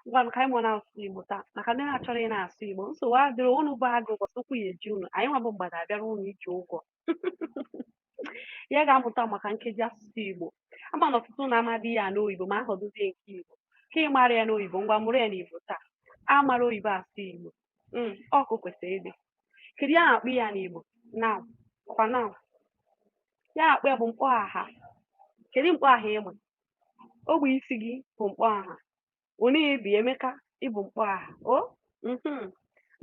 ngwanụ ka anyị mụọ n'asụsụ Igbo taa maka ndị na-achọrọ ị na-asụ Igbo nsogbu adịrọ ụnụ bụ agụ ụbọchị ụkwụ ya eji ụnụ anyị nwa bụ mgbada abịara ụnụ iji ụgwọ ya ga-amụta maka nkeji asụsụ Igbo ama m na ọtụtụ na-amadị ya n'oyibo ma ya họdụzie nke Igbo ka ị mara ya n'oyibo ngwa mụrụ ya n'Igbo taa a mara oyibo asụ Igbo hmm, otu o kwesịrị ịdị kedu ihe a na-akpọ ya n'Igbo noun ọkwa noun ihe a na-akpọ ya bụ mkpọ aha kedu mkpọ aha ịma ogbe isi gị bụ mkpọ aha ọ na-ebi Emeka ị bụ mkpọ aha o mhm.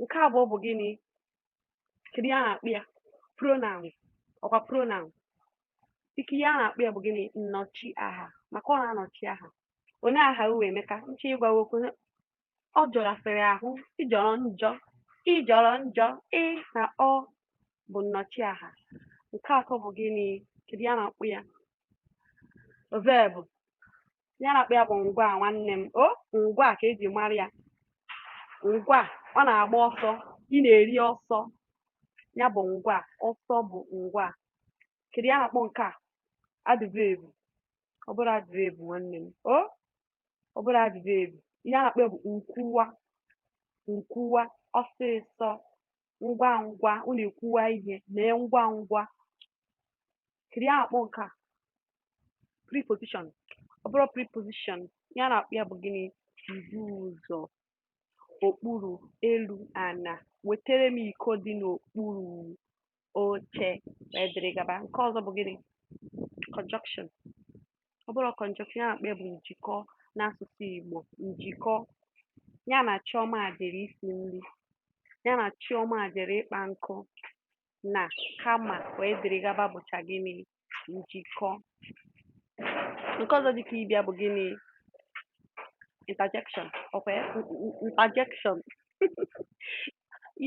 nke abụọ bụ gịnị kedu ihe a na-akpọ ya pronoun ọkwa pronoun ike ihe a na-akpọ ya bụ gịnị nnọchi aha maka ọ na-anọchi aha onye aha uwe Emeka nche ịgwawa okwu ọ jọrasịrị ahụ ị jọrọ njọ ị jọrọ njọ ị na ọ bụ nnọchiaha nke atọ bụ gịnị kedu ihe a na-akpọ ya verb ihe a na-akpọ ya bụ ngwaa nwanne m o ngwaa ka e ji mara ya ngwaa ọ na-agba ọsọ ị na-eri ọsọ ya bụ ngwaa ọsọ bụ ngwaa kedu ihe a na-akpọ nke a adverb ọ bụrụ adverb nwanne m o ọ bụrụ adverb ihe a na-akpọ ya bụ nkwuwa nkwuwa ọsịsọ ngwa ngwa ọ na-ekwuwa ihe mee ngwa ngwa kedu ihe a na-akpọ nke a preposition ọ bụrụ preposition ihe a na-akpọ ya bụ gịnị mbuụzọ okpuru elu ana wetere m iko dị n'okpuru oche wee dịrị gaba nke ọzọ bụ gịnị conjunction ọ bụrụ conjunction ihe a na-akpọ ya bụ njikọ n'asụsụ Igbo njikọ ya na Chioma jere isi nri ya na Chioma jere ịkpa nkụ na kama wee dịrị gaba bụcha gịnị njikọ nke ọzọ dịka ịbịa bụ gịnị interjection ọkwa ya interjection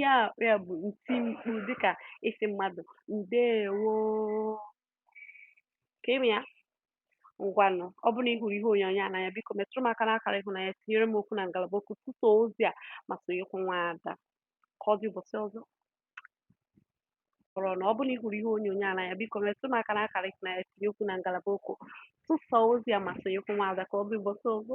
ya ya bụ ntimkpu dịka ịsị mmadụ ndewo ka i mee ya ngwanụ ọ bụrụ na ị hụrụ ihe onyonyo a n'anya biko metụrụ m aka n'akara ịhụnanya tinyere m okwu na ngalaba okwu tụsaa ozi a ma sonyekwu nwaada ka ọ dị ụbọchị ọzọ kọrọ na ọ bụrụ na ị hụrụ ihe onyonyo a n'anya biko metụ m aka n'akara ịhụnanya tinye okwu na ngalaba okwu tụsaa ozi a ma sonyekwu nwaada ka ọ dị ụbọchị ọzọ